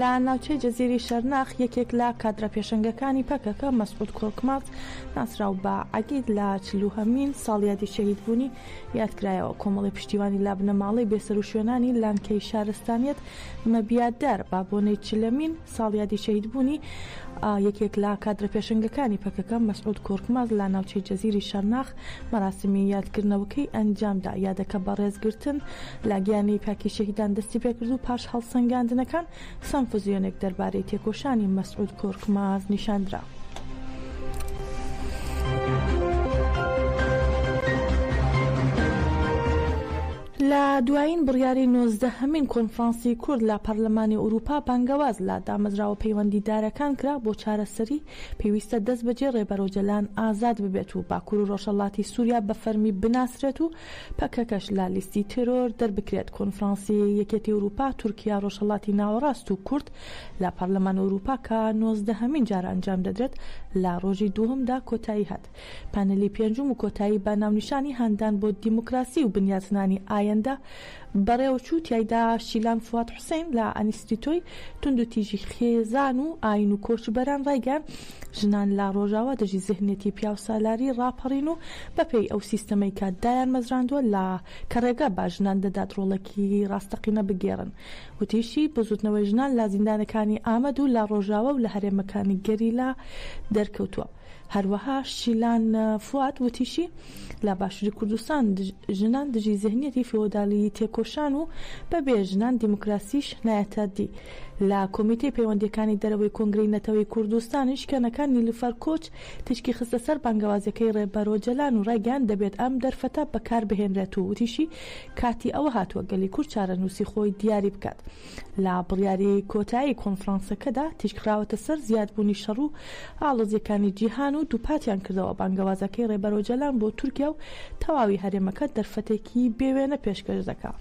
لە ناوچەی جزیری شەرناخ یەکێک لە کادرە پێشنگەکانی پەکەکە مەسعود کۆرکماز ناسراو بە عەگید لە چلوهەمین ساڵیادی شەهیدبوونی یادکرایەوە کۆمەڵی پشتیوانی لابنەماڵەی بێسەر و شوێنانی لانکەی شارستانیت مەبیادار بابۆنەی چلەمین ساڵیادی شەهیدبوونی یەکێک لە کادرە پێشەنگەکانی پەکەکە مەسعود کۆرکماز لە ناوچەی جزیری شەرناخ مەراسمی یادکردنەوەکەی ئەنجامدا، یادەکە بە ڕێزگرتن لە گیانی پاکی شەهیدان دەستیپێکرد و پاش هەڵسەنگاندنەکان سەمفزیۆنێک دەربارەی تێکۆشانی مەسعود کۆرکماز نیشاندرا. لە دوایین بڕیاری نۆزدە هەمین کۆنفرانسی کورد لە پارلمانی ئورووپا بانگەواز لە دامەزراوە پەیوەندیدارەکان کرا بۆ چارەسەری، پێویستە دەستبەجێ ڕێبەر ئۆجەلان ئازاد ببێت و باکوور و ڕۆژهەڵاتی سووریا بە فەرمی بناسرێت و پەکەکەش لە لیستی تێرۆر دەربکرێت کۆنفرانسی یەکێتی ئورووپا تورکیا ڕۆژهەڵاتی ناوەڕاست و کورد لە پارلمان ئورووپا کە نۆزدە هەمین جارە ئەنجام دەدرێت لە ڕۆژی دووهەمدا کۆتایی هات. پانێلی پێنجوم و کۆتایی بە ناونیشانی هاندان بۆ دیموکراسی و بنیاتنانی ئایندە بەڕێوەچوو، تیایدا شیلان فواد حوسەین لە ئەنیستیتۆی توندوتیژی خێزان و ئاین و کۆچبەران ڕایگەیاند، ژنان لە ڕۆژاوا دژی زهنیەتی پیاوسالاری ڕاپەڕین و بەپێی ئەو سیستەمەی کە دایانمەزراندوە لە کە ڕێگە بە ژنان دەدات ڕۆڵێکی ڕاستەقینە بگێڕن. وتیشی، بزوتنەوەی ژنان لە زیندانەکانی ئامەد و لە ڕۆژاوا و لە هەرێمەکانی گەریلا دەرکەوتوە، هەروەها شیلان فواد وتیشی، لە باشوری کوردستان ژنان دژی زهنیەتی فیۆدالیی تێکۆشان و بە بێ ژنان دیموکراسیش نایەتە دی. لە کۆمیتەی پەیوەندییەکانی دەرەوەی کۆنگرەی نەتەوەی کوردستانیش کەنەکە نیلوفەر کۆچ تیشکی خستە سەر بانگەوازەکەی ڕێبەر ئۆجەلان و ڕایگەیاند دەبێت ئەم دەرفەتە بەکاربهێنرێت و وتیشی، کاتی ئەوە هاتووە گەلی کورد چارەنووسی خۆی دیاری بکات. لە بڕیاری کۆتایی کۆنفرانسەکەدا تیشکخراوەتە سەر زیادبوونی شەڕ و ئاڵۆزییەکانی جیهان و دووپاتیان کردەوە بانگەوازەکەی ڕێبەر ئۆجالان بۆ تورکیا و تەواوی هەرێمەکە دەرفەتێکی بێ وێنە پێشکەش دەکا.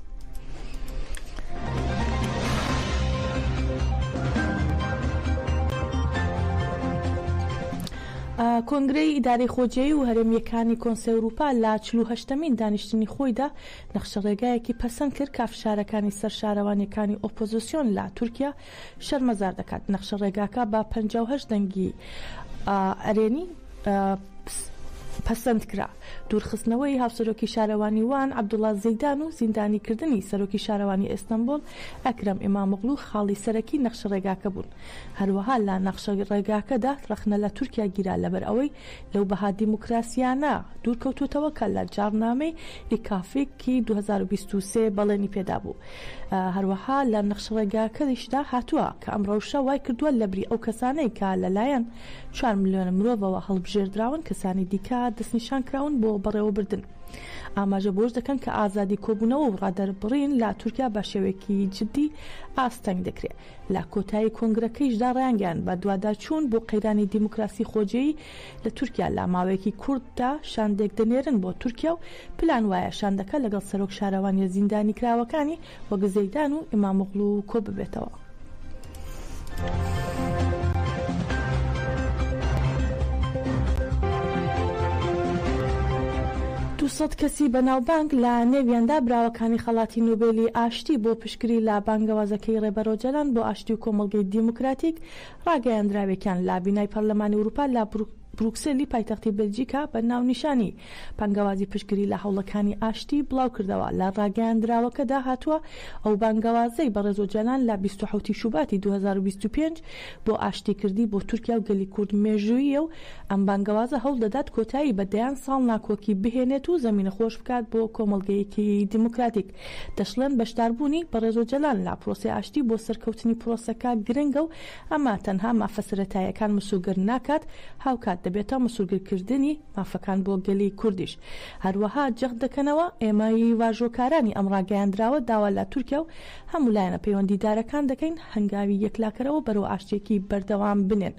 کۆنگرەی ئیدارەی خۆجێی و هەرێمییەکانی کۆنسەی ئەوروپا لە چل و هەشتەمین دانیشتنی خۆیدا، نەخشەڕێگایەکی پەسەند کرد کا فشارەکانی سەر شارەوانیەکانی ئۆپۆزسیۆن لە تورکیا شەرمەزار دەکات نەخشە ڕێگاکە بە پەنجا و هەشت دەنگی ئەرێنی پەسەند کرا دوورخستنەوەی هاوسەرۆکی شارەوانی وان عبدوڵا زیدان و زیندانی کردنی سەرۆکی شارەوانی ئێستەمبول ئەکرەم ئیمامغلو خاڵی سەرەکی نەخشە ڕێگاکە بوون هەروەها لە نەخشە ڕێگاکەدا ڕەخنە لە تورکیا گیرا لەبەر ئەوەی لەو بەها دیموکراسییانە دوورکەوتووتەوە کە لە جاڕنامەی ئیکافیک ی دوو هەزار و بیست و سێ بەڵێنی پێدابوو. هەروەها لە نەخشەڕێگاکەریشدا هاتووە کە ئەم ڕەوشە وای کردووە لەبری ئەو کەسانەی کە لەلایەن چوار ملیۆن مرۆڤەوە هەڵبژێردراون کەسانی دیکە دەستنیشان کراون بۆ بەڕێوەبردن. ئاماژە بەوەش دەکەن کە ئازادی کۆبوونەوە و ڕادەربڕین لە تورکیا بە شێوەیەکی جددی ئاستەنگ دەکرێت. لە کۆتایی کۆنگرەکەیشدا ڕایانگەیاند بەدواداچوون بۆ قەیرانی دیموکراسی خۆجێی لە تورکیا لە ماوەیەکی کورتدا شاندێک دەنێرن بۆ تورکیا و پلان وایە شاندەکە لەگەڵ سەرۆک شارەوانیە زیندانیکراوەکانی وەک زەیدان و ئیمامۆغڵو کۆببێتەوە. دوو سەد کەسی بەناوبانگ لە نێویاندا براوەکانی خەڵاتی نۆبێلی ئاشتی بۆ شکری لە بانگەوازەکەی ڕێبەر ئۆجەلان بۆ ئاشتی و کۆمەڵگەی دیموکراتیک، ڕاگەیاندراوێکیان لە بینای پەرلەمانی ئورووپا لە بروکسێلی پایتەختی بەلجیکا بە ناونیشانی، بانگەوازی پشتگری لە هەوڵەکانی ئاشتی، بڵاو کردەوە. لە ڕاگەیاندراوەکەدا هاتووە، ئەو بانگەوازەی بەڕێز ئۆجەلان لە بیست و حەوت ی شوباتی دوو هەزار و بیست و پێنج بۆ ئاشتی کردی، بۆ تورکیا و گەلی کورد مێژووییە و ئەم بانگەوازە هەوڵ دەدات کۆتایی بە دەیان ساڵ ناکۆکی بهێنێت و زەمینە خۆش بکات بۆ کۆمەڵگەیەکی دیموکراتیک. دەشڵێن بەشداربوونی بەڕێز ئۆجەلان لە پرۆسەی ئاشتی بۆ سەرکەوتنی پرۆسەکە گرنگە و ئەمە تەنها مافە سەرەتاییەکان مسۆگەر ناکات، هاوکات دەبێتە مسۆگەرکردنی مافەکان بۆ گەلی کوردیش. هەروەها جەخت دەکەنەوە، ئێمە ی واژۆکارانی ئەم ڕاگەیاندراوە داوا لە تورکیا و هەموو لایەنە پەیوەندیدارەکان دەکەین هەنگاوی یەکلاکەرەوە بەرەو ئاشتییەکی بەردەوام بنێن.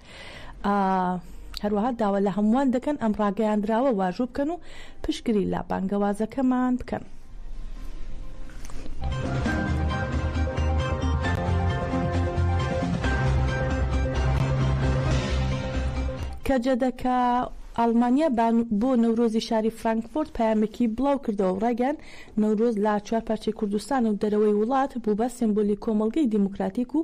هەروەها داوا لە هەمووان دەکەن ئەم ڕاگەیاندراوە واژوو بکەن و پشتگری لە بانگەوازەکەمان بکەن. کەجەدەکە ئاڵمانیا بۆ نەورۆزی شاری فرانکفۆرت پامێکی بڵاو کردەوە ڕاگەن نەورۆز لە چوار پارچەی کوردستان و دەرەوەی وڵات بوو بە سمبولی کۆمەلگەی دیموکراتیک و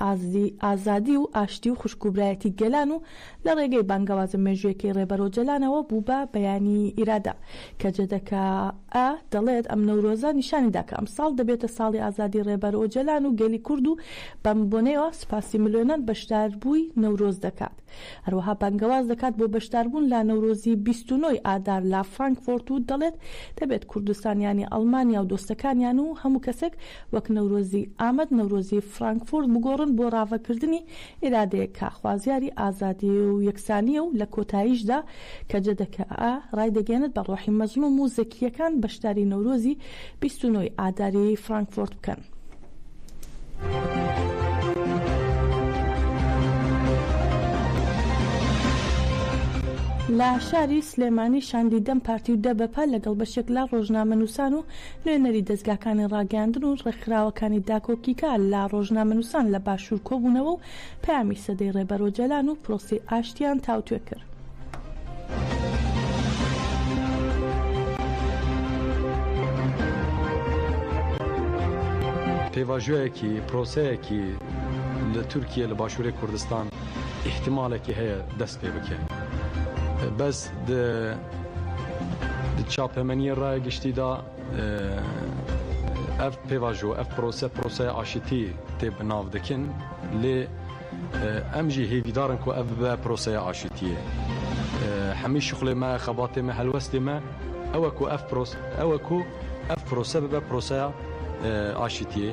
ئازدی، ئازادی و ئاشتی و خوشک و برایەتی گەلان و لە ڕێگەی بانگەوازە مێژوویەکەی ڕێبەر ئۆجەلانەوە بوو بە بەیانی ئیرادە. کە جەدەکە، ە، دەڵێت، ئەم نەورۆزە نیشانی دا کە ئەمساڵ دەبێتە ساڵی ئازادی ڕێبەر ئۆجەلان و گەلی کورد و بەم بۆنەیەوە سوپاسی ملوێنان بەشداربووی نەورۆز دەکات. هەروەها بانگەواز دەکات بۆ بەشداربوون لە نەورۆزی بیست و نۆ ی ئادار لە فڕانکفۆرت و دەڵێت، دەبێت کوردستانیانی ئەڵمانیا و دۆستەکانیان و هەموو کەسێک وەک نەورۆزی ئامەد نەورۆزی فڕانکفۆرت بگۆڕن بۆ ڕاڤەکردنی ئیرادەیەک کە خوازیاری ئازادی و یەکسانییە و لە کۆتاییشدا کەجەدەکە ڕایدەگەیەنێت بە ڕۆحی مەزڵوم و زەکییەکان بەشداری نەورۆزی بیست و نۆ ی ئاداری فڕانکفۆرت بکەن. لە شاری سلێمانی شاندی دەم پارتی و دەبەپە لەگەڵ بەشێک لە ڕۆژنامەنووسان و نوێنەری دەزگاکانی ڕاگەیاندن و ڕێکخراوەکانی داکۆکیکار لە ڕۆژنامەنووسان لە باشوور کۆبوونەوە و پەیامی سەدەی ڕێبەر ئۆجالان و پرۆسەی ئاشتییان تاوتوێ کرد. پێواژۆیەکی پرۆسەیەکی لە تورکیە لە باشووری کوردستان ئیحتیمالێکی هەیە دەست پێ بکەین بەس چاپەمەنیە ڕای گشتیدا ئەڤ پێڤاژۆ ئەڤ پرۆسە پرۆسەیە ئاشتی تێ بناو دەکن لێ ئەمژی هێڤیدارن کو ئەڤ بە پرۆسەیە ئاشتیە هەمی شخڵێ مە خەباتێ مە هەلوەستێ مە ئەوە کو ئەف پرۆس ئەوە کو ئەف پرۆسە ببە پرۆسەیە ئاشتیە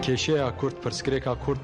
کێشەیە کورد پرسکرێکا کورد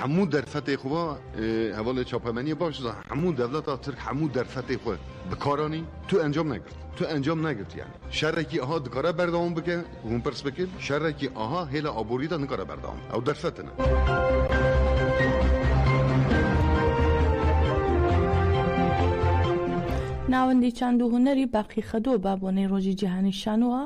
هەموو دەرفەتێ خۆ هەواڵێ چاپەمەنیە باش هەموو دەولەتا ترک هەموو دەرفەتێ خۆ بکارانی تو ئەنجام نەگرت تو ئەنجام نەگرت یعنی شەرێکی ئەها دکارە بەردەوام بکە هون پرس بکرد شەرێکی ئاها هێلا ئابووریدا نکارە بەردەوام ئەو دەرفەتنە. ناوەندی چاند و هونەری باقیخەدووە بابۆنەی ڕۆژی جیهانی شانۆوە،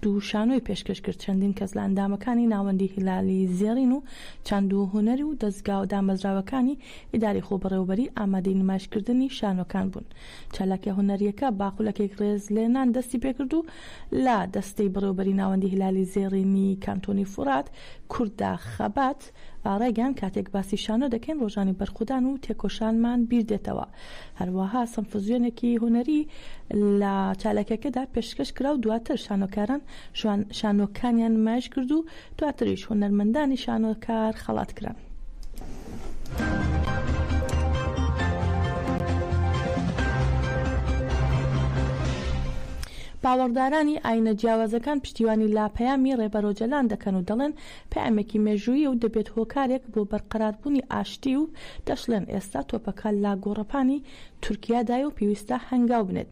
دوو شانۆی پێشکەش کرد، چەندین کەس لە ئەندامەکانی ناوەندی هیلالی زێڕین و چاند و هونەر و دەزگا و دامەزراوەکانی ئیداری خۆبەڕێوەبەری ئامادەی نمایشکردنی شانۆکان بوون. چالاکیە هونەریەکە بە خولەکێک رێز لێنان دەستی پێکرد و لە دەستەی بەڕێوەبەری ناوەندی هیلالی زێڕینی کانتۆنی فورات، کوردە خەبات، ئارا گیان کاتێک باسی شانۆ دەکەین ڕۆژانی بەرخودان و تێکۆشانمان بیر دێتەوە هەروەها سمفزیۆنێکی هونەری لە چاالکەکەدا پێشکەش کراو دواتر شانۆکاران شوان شانۆکانیان نمایش کرد و دواتریش هونەرمەندانی شانۆکار خەڵات کران. باوەڕدارانی ئاینە جیاوازەکان پشتیوانی لە پەیامی ڕێبەرۆجەلان دەکەن و دەڵێن، پەیامێکی مێژوویی و دەبێت هۆکارێک بۆ بەرقەراربوونی ئاشتی و دەشڵێن ئێستا تۆپەکە لە گۆڕەپانی تورکیادایە و پێویستە هەنگاو بنێت.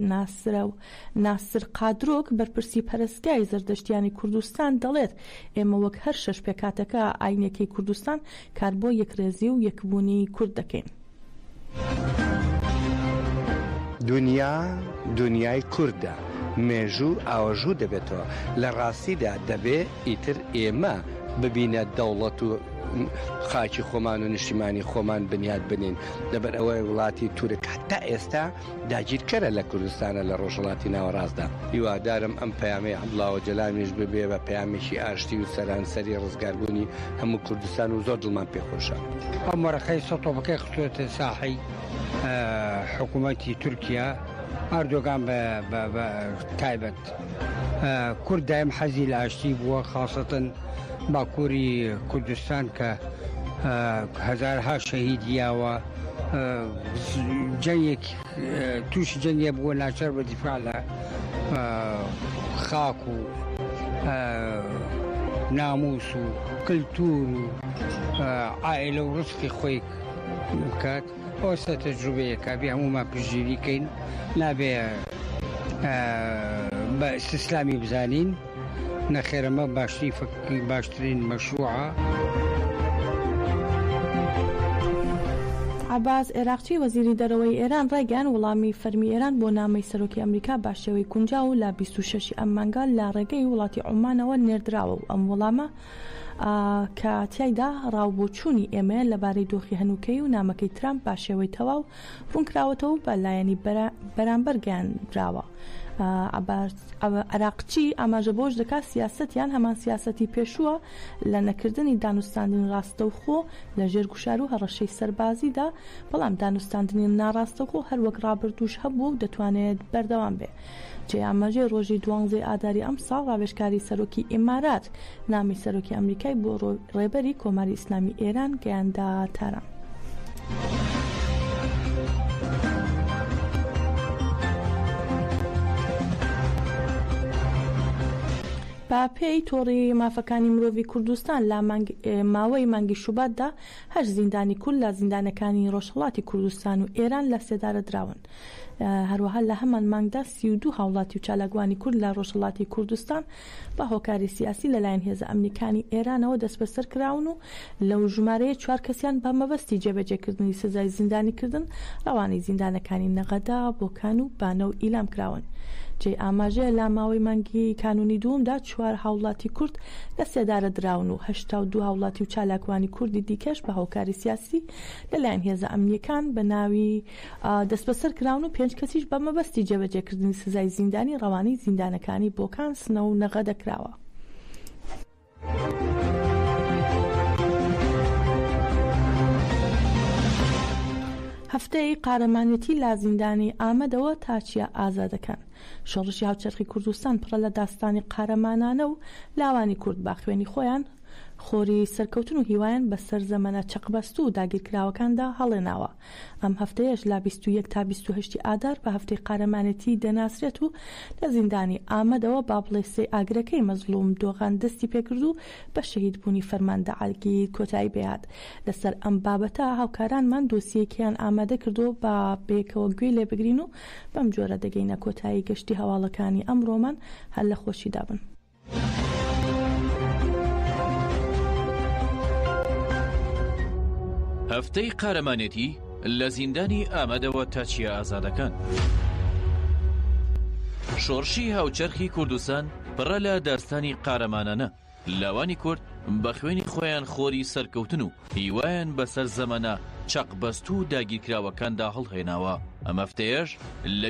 ناسر قادرۆک، بەرپرسی پەرەستگای زەردەشتییانی کوردستان دەڵێت ئێمە وەک هەر شەش پێکهاتەکە ئایینییەکەی کوردستان کار بۆ یەکرێزی و یەکبوونی کورد دەکەین. دونیا دونیای کوردە، مێژوو ئاوەژوو دەبێتەوە، لە ڕاستیدا دەبێ ئیتر ئێمە ببینە دەوڵەت و خاکی خۆمان و نیشتیمانی خۆمان بنیات بنێین، لەبەر ئەوەی وڵاتی تورک هەتا ئێستا، داگیرکەرە لە کوردستانە لە ڕۆژهەڵاتی ناوەڕاستدا. هیوادارم ئەم پەیامەی عەبدوڵا ئۆجەلانیش ببێ بە پەیامێکی ئاشتی و سەرانسەری ڕزگاربوونی هەموو کوردستان و زۆر دڵمان پێ خۆشە. ئەم وەرەقەی سەد تۆپەکەی خستووەتە ساحەی حکوومەتی تورکیا، ئەردۆگان بە تایبەت. دەکات. کورد دایم حەزی لە ئاشتی بووە خاصەتەن باکووری کوردستان کە هەزارها شەهید یاوە جەنگێک تووشی جەنگێ بووە ناچار بە دیفاع لە خاک و ناموس و کللتور و ئایلە و ڕستی خۆی بکات. ئەوسا تەجروبەیە کابێ هەموومان پشتگیری کەین نابێ بە سیسلامی بزانین نەخێرەمە باشترین فکری باشترین مەشروعە. عەباس عێراقچی وەزیری دەرەوەی ئێران ڕایگەیاند، وڵامی فەرمی ئێران بۆ نامەی سەرۆکی ئەمریکا بە شێوەی گونجاو لە بیست و شەش ی ئەم مانگە لە ڕێگەی وڵاتی عومانەوە نێردراوە و ئەم وڵامە ە کە تیایدا ڕا و بۆچوونی ئێمەیە لە بارەی دۆخی هەنووکەیی و نامەکەی ترامپ بە شێوەی تەواو ڕوونکراوەتەوە و بە لایەنی بەرامبەر گەیاندراوە. عەراقچی ئاماژە بەوەش دەکات سیاسەتیان هەمان سیاسەتی پێشووە لە نەکردنی دانوستاندنی ڕاستەوخۆ لە ژێر گوشار و هەڕەشەی سەربازیدا، بەڵام دانوستاندنی ناڕاستەوخۆ هەروەک ڕابردووش هەبووە و دەتوانێت بەردەوام بێ. جێی ئاماژەیە ڕۆژی دوانزەی ئاداری ئەمساڵ ڕاوێژکاری سەرۆکی ئیمارات نامی سەرۆکی ئەمریکای بۆ ڕێبەری کۆماری ئیسلامی ئێران گەیاندە تاران. بە پێی تۆڕی مافەکانی مرۆڤی کوردستان لە ماوەی مانگی شوباتدا هەشت زیندانی کورد لە زیندانەکانی ڕۆژهەڵاتی کوردستان و ئێران لە سێدارە دراون. هەروەها لە هەمان مانگدا سی و دوو هاوڵاتی و چالاکوانی کورد لە ڕۆژهەڵاتی کوردستان بە هۆکاری سیاسی لەلایەن هێزە ئەمنیەکانی ئێرانەوە دەستبەسەر کراون و لەو ژمارەیە چوار کەسیان بە مەبەستی جێبەجێکردنی سزای زیندانیکردن ڕەوانەی زیندانەکانی نەغەدە، بۆکان و بانە و ئیلام کراون. جێی ئاماژەیە لە ماوەی مانگی کانوونی دووەمدا چوار هاوڵاتی کورد لە سێدارە دراون و هەشتا و دوو هاوڵاتی و چالاکوانی کوردی دیکەش بە هۆکاری سیاسی لەلایەن هێزە ئەمنیەکان بە ناوی دەستبەسەر کراون و پێنج کەسیش بە مەبەستی جێبەجێکردنی سزای زیندانی ڕەوانەی زیندانەکانی بۆکان، سنە و نەغەدە کراوە. هەفتەی قارەمانێتی لە زیندانی ئامەدەوە تا چیا ئازادەکان شۆڕشی هاوچەرخی کوردستان پڕە لە داستانی قارەمانانە و لاوانی کورد با خوێنی خۆیان خۆری سەرکەوتن و هیوایان بەسەر زەمەنە چەقبەستوو و داگیرکراوەکاندا هەڵێناوە ئەم هەفتەیەش لە بیست و یەک تا بیست و هەشت ئادار بە هەفتەی قارەمانێتی دەناسرێت و لە زیندانی ئامەدەوە با بڵێ سێ ئاگرەکەی مەزڵوم دۆغان دەستی پێکرد و بە شەهید بوونی فەرماندە عەلگی کۆتایی پێهات لەسەر ئەم بابەتە هاوکارانمان دۆسیەیەکیان ئامادە کردووە با بەیەکەوە گوێی لێ بگرین و بەم جۆرە دەگەینە کۆتایی گەشتی هەواڵەکانی ئەمڕۆمان هەر لە خۆشیدا بن. هەفتەی قارەمانێتی لە زیندانی ئامەدەوە تا چیە ئازادەکان. شۆڕشی هاوچەرخی کوردستان پڕە لە داستانی قارەمانانە لاوانی کورد بە خوێنی خۆیان خۆری سەرکەوتن و هیوایان بەسەر زەمەە چەقبەست و داگیرکراوەکاندا هەڵهێناوە ئەمەفتەیەش لە